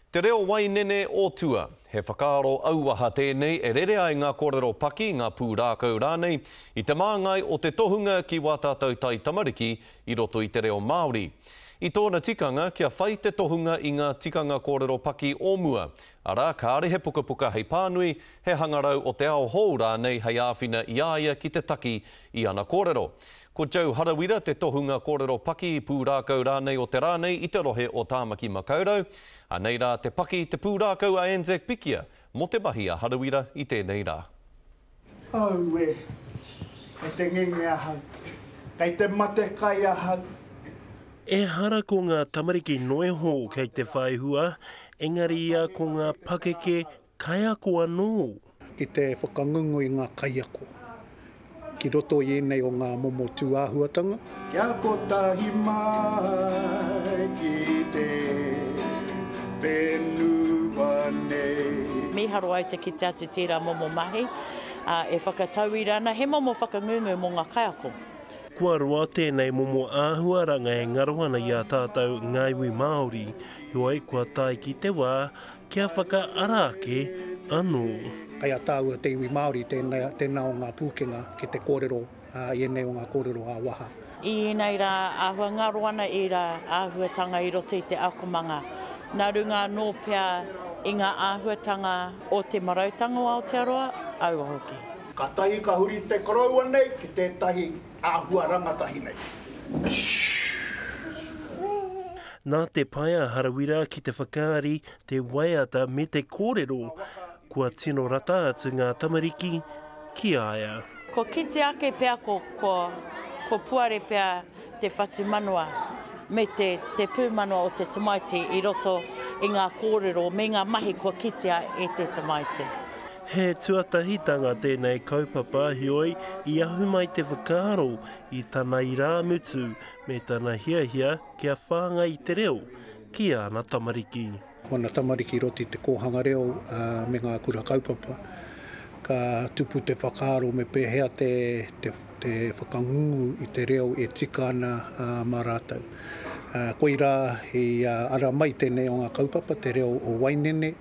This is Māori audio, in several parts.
Te reo wainene o tua. He whakaaro auaha tēnei e rere ai ngā kōrero paki, ngā pūrākau rānei, i te māngai o te tohunga ki wā tātou taitamariki i roto i te reo Māori. I tōna tikanga kia whai te tohunga i ngā tikanga kōrero paki o mua, arā, kāre he pukapuka hei pānui, he hangarau o te ao hou rānei hei āwhina i a ia ki te taki I ana kōrero, ko Joe Harawira te tohunga kōrero paki, pūrākau rānei o te rā nei i te rohe o Tāmaki Makaurau, anei rā te paki, te pūrākau a Anzac Pikia mō te mahi a Harawira i tēnei rā. Auē! Kei te ngenge ahau. Kei te mate kai ahau. Ehara ko ngā tamariki noeho kei te whaihua, engari ia ko ngā pakeke Kaiako anō. Ki te whakangungu i ngā kaiako ki roto i ēnei o ngā momo tūāhuatanga. Kia kotahi mai ki te whenua nei. Mīharo ai te kite atu tērā momo mahi, ā, e whakatauira ana he momo whakangungu mō ngā kaiako. Kua roa tēnei momo āhuaranga e ngaro ana i a tātou ngā iwi Māori, heoi kua tae ki te wā Kia whakaara ake anō. Kei a tāua te iwi Māori tēnā o ngā pūkenga ki te kōrero i ēnei o ngā kōrero ā-waha. I ēnei rā āhua ngaro ana ērā āhuatanga i roto i te akomanga, nā runga anō pea i ngā āhuatanga o te marautanga o Aotearoa, aua hoki. Kātahi ka huri te koroua nei ki tētahi Āhua rangatahi nei. Nā te pae a Harawira ki te whakaari, te waiata me te kōrero, kua tino rata atu ngā tamariki ki a ia. Kua kite ake pea ko ko Puare pea te whatumanawa me te te pūmanawa o te tamaiti i roto i ngā kōrero me ngā mahi kua kitea e te tamaiti. He tuatahitanga tēnei kaupapa heoi i ahu mai te whakaaro i tana irāmutu me tana hiahia kia whāngai te reo ki āna tamariki. Ko ana tamariki i roto i te kōhanga reo me ngā kura kaupapa. Ka tupu te whakaaro me pēhea te whakangungu i te reo e tika ana mā rātou. Koirā i ara mai tēnei o ngā kaupapa, te reo o Wainene.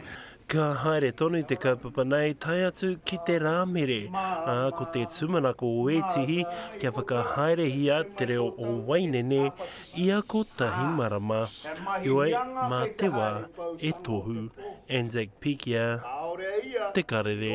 Ka haere tonu te kaupapa nei tae atu ki te Rāmere, ā, ko te tūmanako o ētihi kia whakahaerehia te reo o Wainene i ako tahi marama. Heoi, mā te wā e tohu. Anzac Pikia, Te Karere.